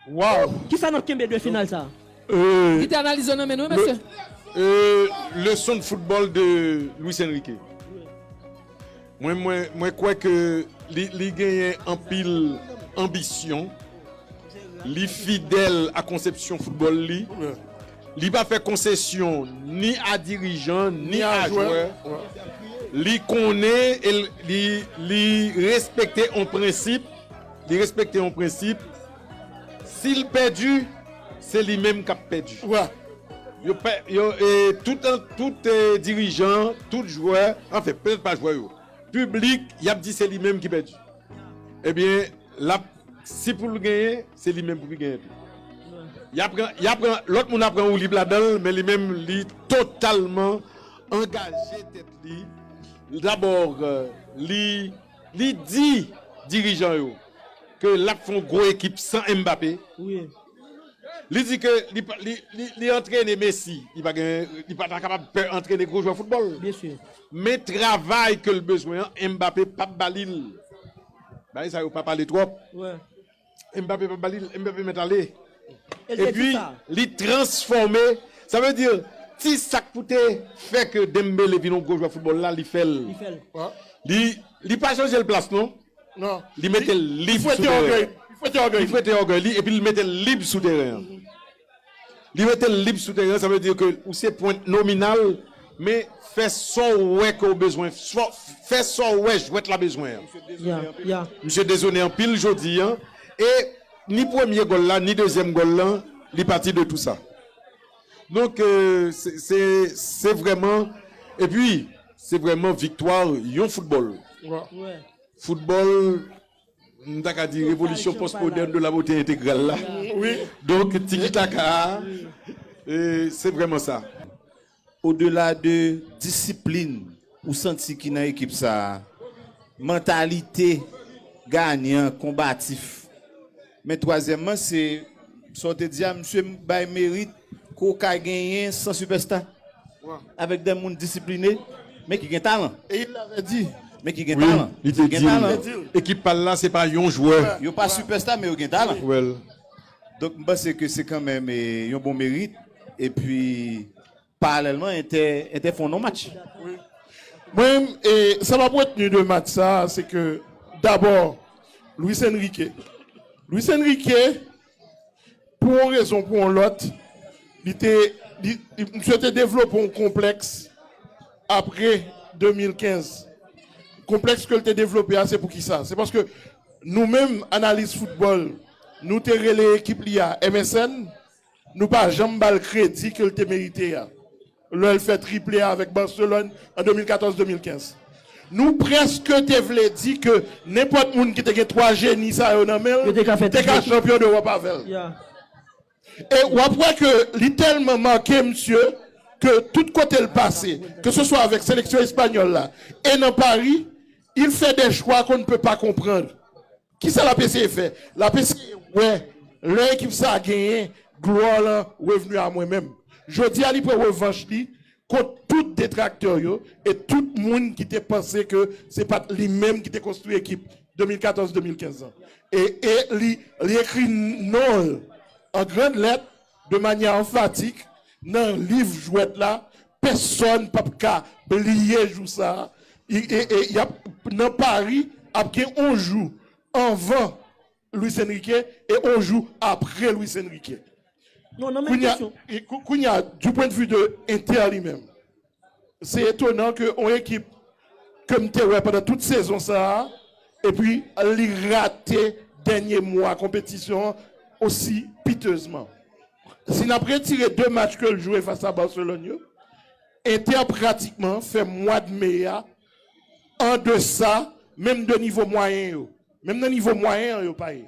Waww! Kisa nap kenbe de final sa? Gite analize nan men nou wi mesye. Leson de football de Luis Enrique. Mwen kwè ke li genyen anpil anbisyon, li fidèl a konsepsyon football li, li pa fè konsesyon ni a dirijan ni a jwè, li konnen e li respekte yon prensip. Li respekte yon prensip, si l pèdi, se li menm k ap pèdi. Tout dirijan, tout jwè, anfen, petèt pa jwè yo, piblik, y ap di se li menm ki pèdi. Ebyen, si pou l genyen, se li menm pou li genyen tou. Lòt moun ap pran woulib ladan l, men li menm li totalman angaje tèt li. Dabò, li. Li di dirijan yo ke lap fè yon gwo ekip san Mbappé. Li di ke li antrene Messi, li pa ta kapab pè antrene gwo jwè foutbòl. Men travay ke l bezwen an, Mbappé pap ba li l. Bagay sa yo pa pale twòp. Mbappé pa bali Mbappé met ale epi li transfòme sa vle di ti sak pou te fè ke Dembele vin yon gwo jwè foutbòl la li fèl li pa chanje l plas non li metel lib sou teren an li fwete ògèy li epi li metel lib sou teren an. Li mete l lib sou teren an, sa vle di ke ou se pwent nominal, men fè sa w wè ke w bezwen, fè sa w wè jwèt la bezwen an. Misye dezone anpil jodi an e ni premye gòl la, ni dezyèm gòl lan, li pati de tou sa. Donk, se vrèman, epi se vrèman viktwa yon foutbòl. Foutbòl. M ta ka di revolisyon pòsmodèn de la bote entegral la. Wi. Donk tikitaka a, se vrèman sa. Odela de disiplin ou santi ki nan ekip sa a, mantalite ganyan, konbatif. Men twazyèmman se sa w te di a msye bay merit ke w ka genyen san sipèsta avèk de moun disipline men ki gen talan. E il l'avait dit. Men ki gen talan. Wi, li te di l. Ekip pa l la se pa yon jwè. Yo pa sipèsta men yo gen talan. Donk m panse ke se kanmenm yon bon merit epi. Paralèlman entè entè fon non match. Wi Mwen menm e sa map retenu de match sa se ke dabò Luis Enrique Luis Enrique pou yon rezon pou yon lòt li te li misye te devlope yon konplèks apre 2015 konplèks ke li te devlope a se poukisa se paske nou menm analis foutbòl nou te rele ekip li a MSN Nou pa janm ba l kredi ke l te merite a lè l fè triple a avèk Barcelone an 2014-2015. Nou prèske te vle di ke nenpòt moun ki te gen 3 jeni sa yo nan men l te ka chanpyon dEwòp avè l. E w ap wè ke li tèlman make misye ke tout kote l pase, ke se swa avèk seleksyon espanyòl la e nan Paris, il fait des choix qu'on ne peut pas comprendre. Kisa lap eseye fè? Lap eseye wè lè ekip sa a genyen glwa l an revni a mwen menm. Jodi a li pran revanch li kont tout detraktè yo e tout moun ki te panse ke se pat li menm ki te konstwi ekip 2014-2015 lan. E li ekri non l an grand lèt de manyè anfatik nan liv jwèt la, pèsòn p ap ka bliye jou sa a. Y ap nan Pari, ap gen yon jou anvan Luis Enrique e yon jou apre Luis Enrique. Kounye a, du pwen de vi de Inter li menm, Se etonan ke yon ekip ke m te wè pandan tout sezon sa a epi li rate dènye mwa konpetisyon an osi pitezman. Si n ap retire 2 match ke l jwe fas a Barcelone yo, Inter pratikman fè mwad me a an desa menm 2 nivo mwayen yo. Menm nan nivo mwayen an yo pa ye.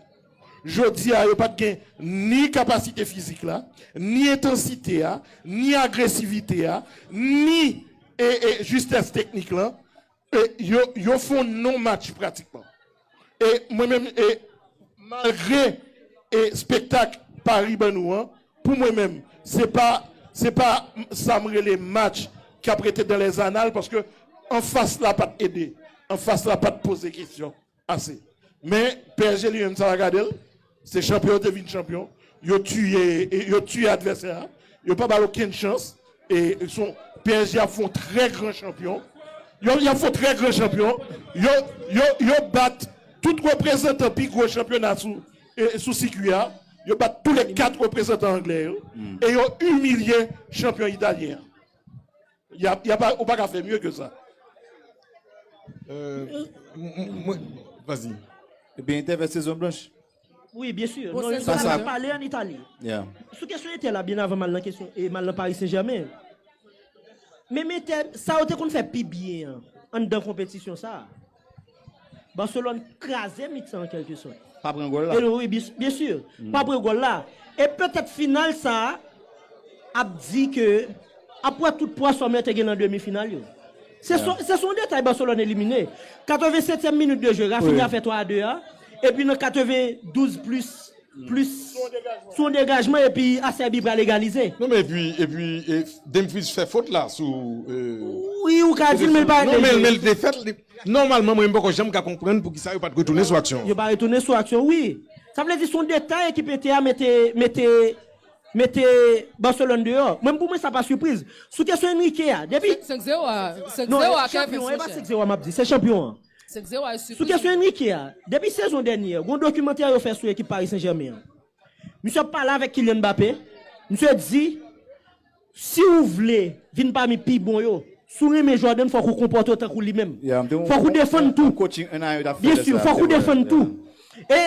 Jodi a yo pa t gen ni kapasite fizik la, ni entansite a, ni agresivite a, ni jistès teknik lan. Yo fon non match pratikman. E mwen menm, malgre spektak Paris ban nou an, Pou mwen menm, se pa se pa sa m rele match k ap rete dan lèz anal paske anfas la pa t ede, anfas la pa t poze kesyon ase. Men psg li menm sa pa gade l, se chanpyon yo te vin chanpyon, yo tiye yo tiye advèsè a, yo pa ba l okenn chans e son psg ap fè yon trè gran chanpyon, yo y ap fè yon trè gran chanpyon, yo yo yo bat tout reprezantan pi gwo chanpyona sou E sou sikui a, yo bat tou le 4 reprezantan angle yo e yo imilye chanpyon italyen an. Y a ou pa ka fè mye ke sa. Vazi. Ebyen Inter vè sezon blanch. Wi byen sur. Non yo te ka pale an Itali. Sou kesyon Inter la byen avan mal nan kesyon e mal nan Paris Saint Germain. Menm Inter sa yo te konn fè pi byen an anndan konpetisyon sa a. Barcelone kraze mitan an kelke sòt. Pa pran gòl la. Wi, byen si. Pa pran gòl la. E petèt final sa a ap di ke ap pran tout pwa sòm lè te gen nan demi final yo. Se son se son detay Barcelone elimine. 87 ème minit de jeu Raphinha fè 3 a 2 a epi nan 92 plis Plis son degajman epi afè bi pra legalize. Non men epi epi demfriz fè fot la sou Wi ou ka dil men li pa regle li. Non men li te fèt li nòmalman mwen mpoko janm ka konprann poukisa yo pat retounen sou aksyon an. Yo pa retounen sou aksyon wi. Sa vle di son detay ekip Inter a mete mete mete Barcelone deyò. Mwen pou mwen sa pa sipriz. Sou kesyon Enrique a depi. 5 zero a 5 zero a Kervens monchè. Non e pa 5 zero a map di se chanpyon an. Sou kesyon Enrique a, depi sezon dènyè, gon dokimantè yo fè sou ekip Paris Saint-Germain an. Misye ap pale avèk Kylian Mbappé, misye di, Si ou vle vin pami pi bon yo, si ou renmen jwè w menm fòk ou konpòte w tankou li menm. Fòk ou defann tou. Byen sur, fòk ou defann tou. E.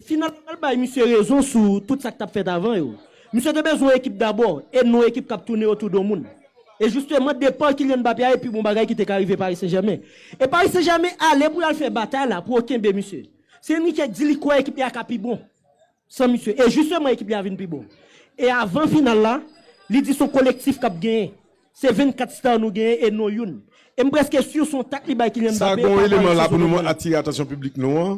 Finalman yo al bay misye rezon sou tout sa k t ap fèt avan yo. Misye te bezwen ekip dabò e non ekip k ap tounen otou do moun. E jisteman depa Kylian Mbappé a e pi bon bagay ki te ka rive Paris Saint-Germain. E Paris Saint-Germain ale pou y al fè batay la pou yo kenbe misye. Se Enrique k di li kwè ekip li a ka pi bon san misye. E jisteman ekip li a vin pi bon. E avan final la, li di s on kolektif k ap genyen. Se 24 star nou genyen e non youn. E m prèske sur s on tak li bay Kylian Sa Mbappé gon pa Paris eleman la pou Saint-Germain nou nan. atire atansyon piblik nou an.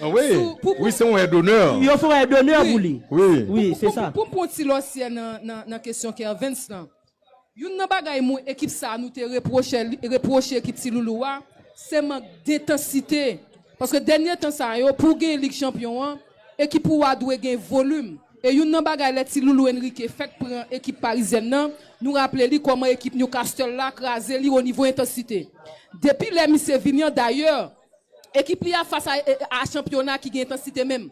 Wi se yon è donè. Yo fè yon è donè pou li. Wi se sa. Pou m pran yon ti lòsyè nan kesyon Kervens lan. Youn nan bagay moun ekip sa nou te repwoche ekip Ti Loulou a, se mank dentansite. Paske dènye tan sa yo pou w genyen Lig Chanpyon an, ekip ou a dwe gen volim. E youn nan bagay lè Ti Loulou Enrique fèk pran ekip parizyèn nan, nou raple li kòman ekip Newcastle la kraze li onivo entansite. Depi lè misye vini an dayè, Ekip li a fas a chanpyona ki gen entansite menm.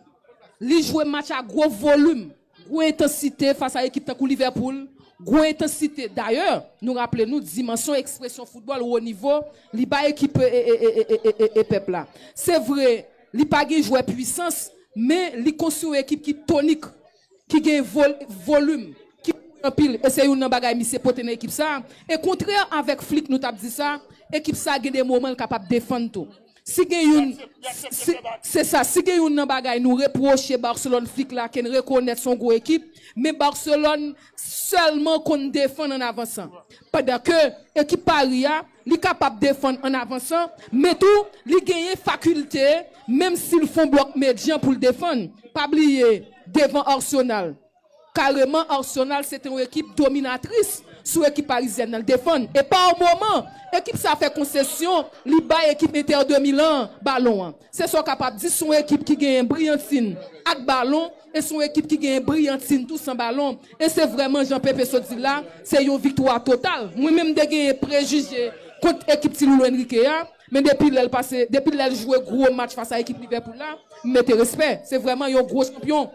Li jwe match a gwo volim, gwo entansite fas a ekip tankou Liverpool, gwo entansite. Dayè, nou raple nou dimansyon ekspresyon foutbòl wo nivo li bay ekip e pèp la. Se vre, li pa gen jwè pwisans, men li konstwi yon ekip ki tonik. ki gen volum, ki kouri anpil e se youn nan bagay misye pote nan ekip sa, e kontrè avèk Flick nou tap di sa, ekip sa gen de moman l kapab defann tou. Si gen youn si se sa, si gen youn nan bagay nou repwoche Barcelone Flick la ke n rekonèt son gwo ekip, men Barcelone sèlman konn defann an avansan. Pandan ke ekip Paris a, Li kapab defann an avansan, men tou li genyen fakilte, menm si l fon blòk medyan pou l defann. Pa bliye, devan Arsenal, kareman Arsenal se te yon ekip dominatris sou ekip parizyèn nan. L defann e pa moman ekip sa fè konsesyon, li bay ekip Inter de Milan an balon an. Se sa w kapab di sou yon ekip ki genyen briyantin ak balon e sou yon ekip ki genyen briyantin tou san balon. E se vrèman jan Pepe sot di l la, se yon viktwa total. Mwen menm m te genyen prejije kont ekip Ti Loulou Enrique a, men depi lè l pase, depi lè l jwe gwo match fas a ekip Livèpoul la, m mete respè. Se vrèman yon gwo chanpyon.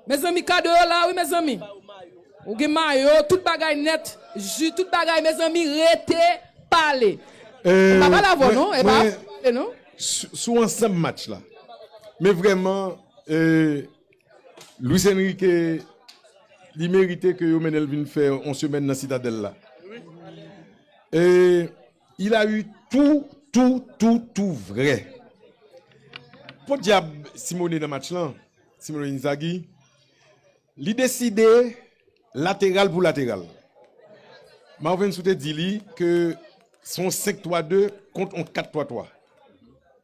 Mezanmi kado yo la wi mezanmi. Ou gen mayo, tout bagay net, ju tout bagay mezanmi rete pale. Mwen pa pale avèw non, epa mwen pale non. Sou ansanm match la. Men vrèman Luis Enrique li merite ke yo mennenl vin fè yon semèn nan Citadelle la. Il a eu tou tou tou tou vrè. Podyab Simone nan match lan, Simone Inzaghi, li deside lateral pou lateral. Marvens ou te di li ke son 5-3-2 kont on 4-3-3.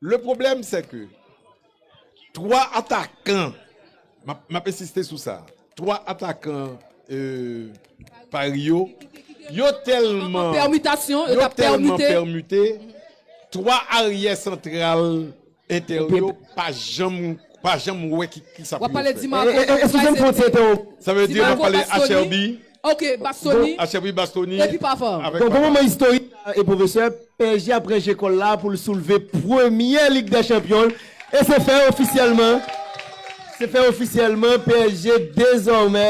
Le problème c'est que 3 atakan, map ensiste sou sa, 3 atakan Paris yo, yo tèlman permute, 3 aryè santral Inter yo pa janm wè kisa pou yo fè. Sa vle di map pale HRB. Ok bastoni epi papa. Bon bon moman istorik la e pwofesè, psg ap ranje kòl la poul soulve premyè lig dè chanpyon l e se fè ofisyèlman se fè ofisyèlman psg dezòmè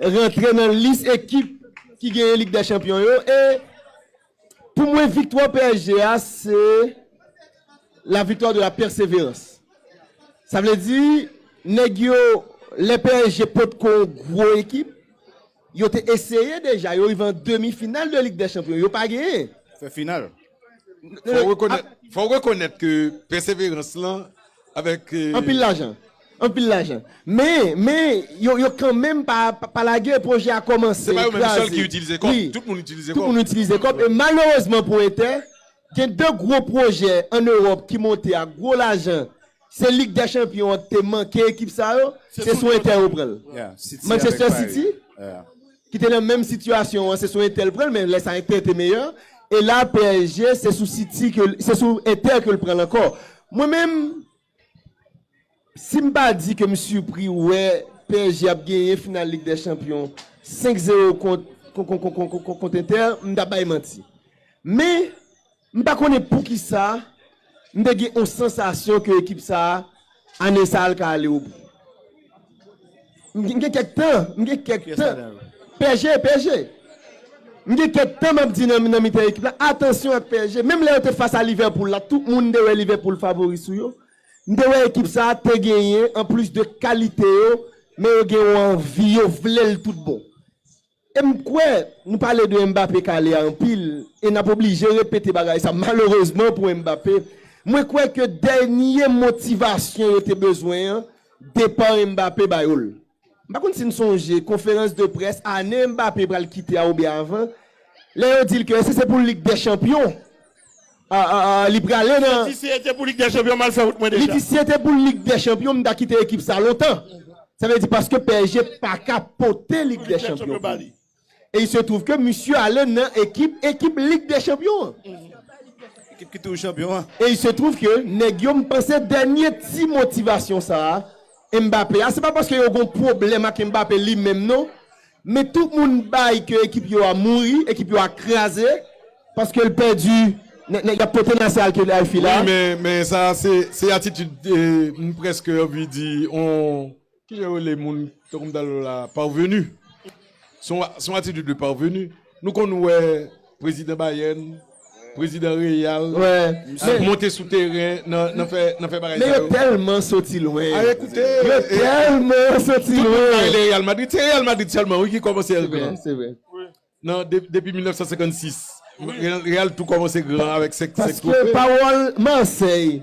rantre nan lis ekip ki genyen lig dè chanpyon yo e Pou mwen viktwa psg a se la viktwa de la pèseverans. Sa vle di nèg yo lè psg potko yon gwo ekip, yo te eseye deja, yo rive an demi final de lig dè chanpyon, yo pa genyen. Fè final. Fò w rekonèt ke pèseverans lan avèk. Anpil lajan. Anpil lajan. Men, men, yo, yo kanmenm pa, pa lage, pwojè a kòmanse, Se pa yo menm kraze. sèl ki itilize kòb. Wi. Tout moun itilize Tout kòb. moun itilize kòb. E malerezman pou Entè, gen de gwo pwojè an Ewòp ki monte ak gwo lajan. Se Lig dè Chanpyon an ki te manke ekip sa yo, Se se tout sou Entè yo pran l. kote. Yeah, City avèk Manchester Paris. City, Yeah. ki te nan menm sitiyasyon an, se sou Entè l pran l, men lè sa Entè te meyè. E la PSG, se sou City ke l, se sou Entè ke l pran l ankò. Mwen menm, Si m pa di ke m sipri wè psg ap genyen final lig dè chanpyon 5 zero kont Inter, m ta bay manti. Men, m pa konnen poukisa m te gen yon sansasyon ke ekip sa a, ane sa a l ka ale obou. M gen kèk tan, m gen kèk tan. PSG, PSG. M gen kèk tan m ap di nan mitan ekip la, atansyon ak PSG. Menm lè yo te fas a Liverpool la, tout moun te wè Liverpool favori sou yo. M te wè ekip sa a te genyen, anplis de kalite yo, men yo gen yon anvi, yo vle l tout bon. E m kwè nou pale de Mbappé kale a anpil e n ap oblije repete bagay sa malerezman pou Mbappé. Mwen kwè ke dènye motivasyon yo te bezwen an, depa Mbappé ba yo l. M pa konn si n sonje konferans de près ane Mbappé pral kite a oubyen avan, lè yo di l ke èske se pou Lig dè chanpyon? li prale nan. Li di si e te pou lig dè chanpyon mal fè wout mwen deja. Li di si e te pou lig dè chanpyon m ta kite ekip sa lontan. Sa vle di paske psg paka pote lig dè chanpyon pou li. E il se trouve ke misye ale nan ekip ekip lig dè chanpyon an. Ekip ki toujou chanpyon an. E il se trouve ke nèg yo m panse dènye ti motivasyon sa. Mbappé a se pa paske yo gon pwoblèm ak Mbappé li menm non men tout moun bay ke ekip yo a mouri ekip yo a kraze paske l pèdi nèt nèt yap pote nasè al Khelaifi la. Wi men men sa se se atitid m prèske anvi di on kijan yo rele moun tankou m ta di w la parvenu. Se yon atitid de parvenu. Nou konn wè prezidan Bayern, prezidan Real, ap monte sou teren nan fè bagay sa yo. Men yo tèlman soti lwen. Aye koute. Yo tèlman soti lwen. Tout moun pale de Real Madrid. Se Real Madrid sèlman wi ki kòmanse èr gran. Se vre, se vre. Nan depi 1956. Real tou kòmanse gran avèk 5 twofe. Paske pawòl Marseille.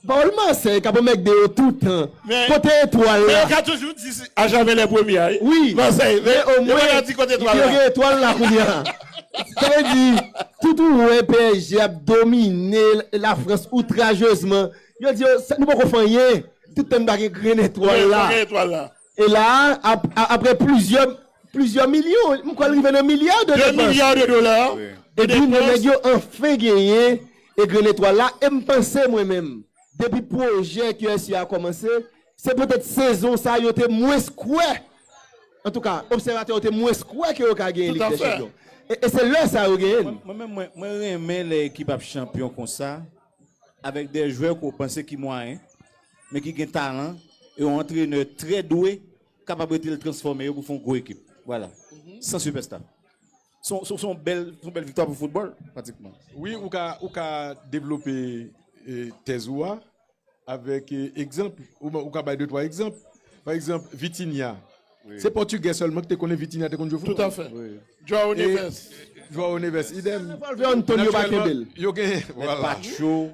Pawòl Marseille kap anmègde yo toutan. Kote etwal la? Men yo ka toujou di a jamè lè premye a wi Marseille men yo paka di kote etwal la. Yo gen etwal la kounya. Sa vle di tout ou wè psg ap domine la France outrajezman yo di yo nou poko fè anyen tout tan n pa gen grenn etwal la. Men fò gen etwal la. E la a, apre plizyè, plizyè milyon, m kwè l rive nan milya de depans. 2 milya de dola de depans. Epi nou nèg yo anfen genyen Egren Etwal la e m panse mwen menm, depi pwojè QSI a kòmanse, se petèt sezon sa yo te mwens kwè, antouka obsèvatè yo te mwens kwè ke yo ka genyen Lig dè Chanpyon. E se lè sa yo genyen l. Mwen menm, mwen renmen lè ekip ap chanpyon konsa. Avèk de jwè ke w panse ki mwayen, men ki gen talan, e yon antrenè trè dwe kapab ede l transfòme yo pou fè yon gwo ekip. Vwala. San sipèsta. Se yon bèl viktwa pou foutbòl, pratikman. Wi, ou ka devlope tèz ou a avèk egzanp. Ou ka bay de twa egzanp. Pa egzanp, Vitinha. Se pòtigè sèlman ki te konnen Vitinha te konn jwe foutbòl. Toutafè. João Neves. João Neves, idem. Natirèlman,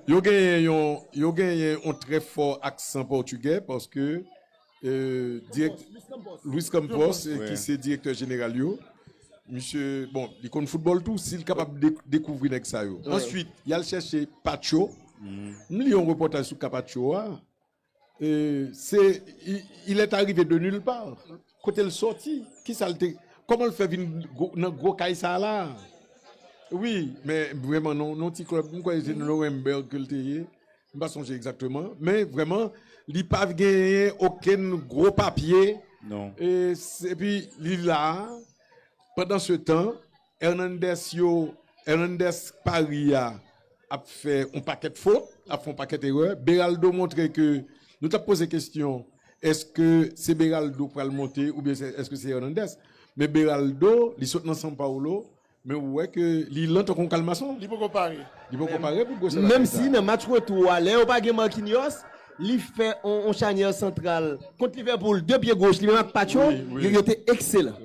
yo genyen yon trè fò aksan pòtigè paske Luis Campos ki se direktè jeneral yo, misye, bon, li konn foutbòl tou, si li kapab dekouvri nèg sa yo. Answit, y al chèche Pacho. M li yon repòtaj sou ka Pacho a. Se il est arrive de nulle part. Kote l soti? Kisa l te, kòman l fè vin nan gwo kay sa la a? Wi, men vrèman nan yon ti club, m kwè se nan Nuremberg ke l te ye, m pa sonje egzakteman. Men vrèman, li pa genyen okenn gwo papye. Epi li la a, pandansetan, Hernandez yo Hernandez Paris a ap fè yon pakèt fot, lap fè yon pakèt erè. Beraldo montre ke nou tap poze kestyon eske se Beraldo k pral monte oubyen se eske se Hernandez. Men Beraldo li sot nan San Paolo men ou wè ke li lan tankou yon kalmason. Li poko pare. Li poko pare pou gwo salary sa. Menm si nan match retou a lè yo pa gen Marquinhos, li fè yon chanyè santral kont Liverpool 2 pye goch li menm ak Pacho yo te ekselan.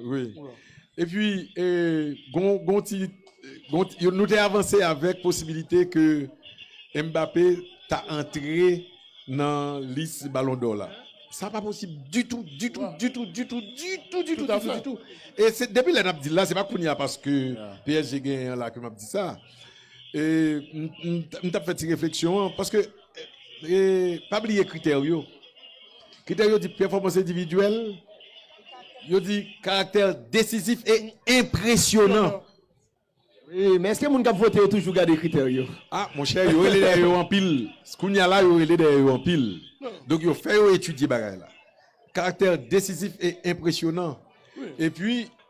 Epi gon ti, nou te avanse avèk posibilite ke Mbappé ta antre nan lis Ballon d'Or la. Sa pa posib ditou, ditou, ditou, ditou, ditou, ditou, ditou, ditou. E se depi lè nap di l la, se pa kounye a paske PSG genyen an la ke map di sa. E m tap fè ti refleksyon an paske. Pa bliye kritè yo. Kritè yo di pèfòmans endividyèl, yo di karaktè desizif e enpresyonan. Men èske moun k ap vote yo toujou gade kritè yo? A, monchè, yo rele dèyè yo anpil. Kounye a la, yo rele dèyè yo anpil. Donk, yo fè yo etidye bagay la. Karaktè desizif e enpresyonan. Epi,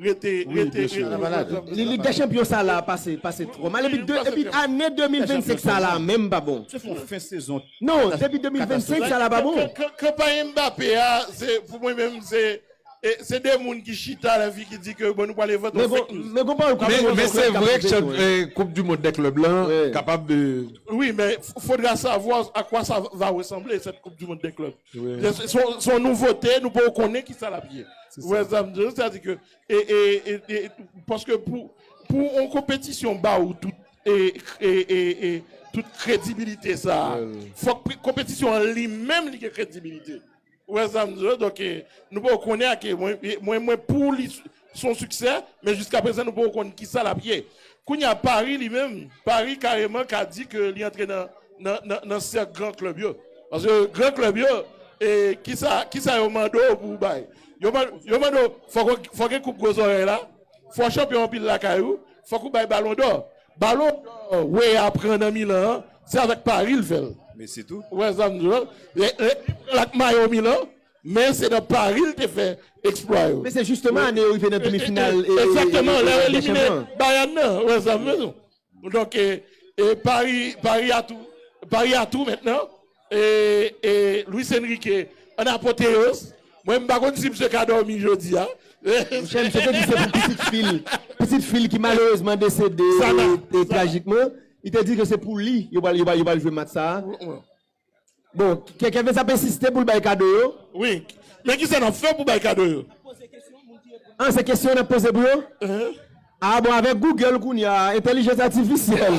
Rete rete rete. Lig dè chanpyon sa la pase pase twò mal epi epi ane 2025 sa la menm pa bon. Se fon fen sezon. Non depi 2025 sa la pa bon. Kanpay Mbappé a se pou mwen menm se se 2 moun ki chita nan figi di ke bon nou pral envante yon fake news. Men gon pawòl koup du mond Men se vre ke koup du mond dè klèb la kapab. Wi men faudra savoir à quoi ça va ressembler cette coupe du monde des clubs. Son nouvote, nou pa ou konnen ki sa l ap ye. Ou wè sa m di w? Sa di ke, paske pou yon konpetisyon ba ou tout kredibilite sa, fòk konpetisyon an li menm li gen kredibilite. Ou wè sa m di w? Donk, nou pa ou konnen a ke mwen pou li, son siksè men jiska prezan nou poko konn kisa lap ye. Kounye a Paris li menm, Paris kareman ka di ke li antre nan sèk gran klèb yo. Paske gran klèb yo e kisa kisa yo mande w pou w bay? Yo mande w fò gen koup gwo zòrèy la, fò w chanpyon anpil lakay ou, fòk ou bay balon dò. Balon dò Weah pran nan Milan an, se avèk Paris l fè l. Messi tou. Ou wè sa m di w la? Li pran l ak mayo Milan, Men se nan Pari l te fè eksplwa yo. Men se jisteman ane yo rive nan demi final Lig dè Chanpyon an. Egzakteman, lè yo elimine Bayern nan. Ou wè sa m vle di w? Donk, Pari a tou. Pari a tou mentnan. E Luis Enrique an apoteyoz. Mwen m pa konn si msye ka dòmi jodi a. Monchè, msye te di se pou pitit fi l. Pitit fi l ki malerezman desede trajikman. Li te di ke se pou li yo pral jwe match sa a. Bon, kè Kevens ap ensiste pou l bay kado yo. Wi, men kisa n ap fè pou bay kado yo? Ah, se kesyon n ap poze pou yo? Ah bon, avèk Google kounya, entèlijans atifisyèl.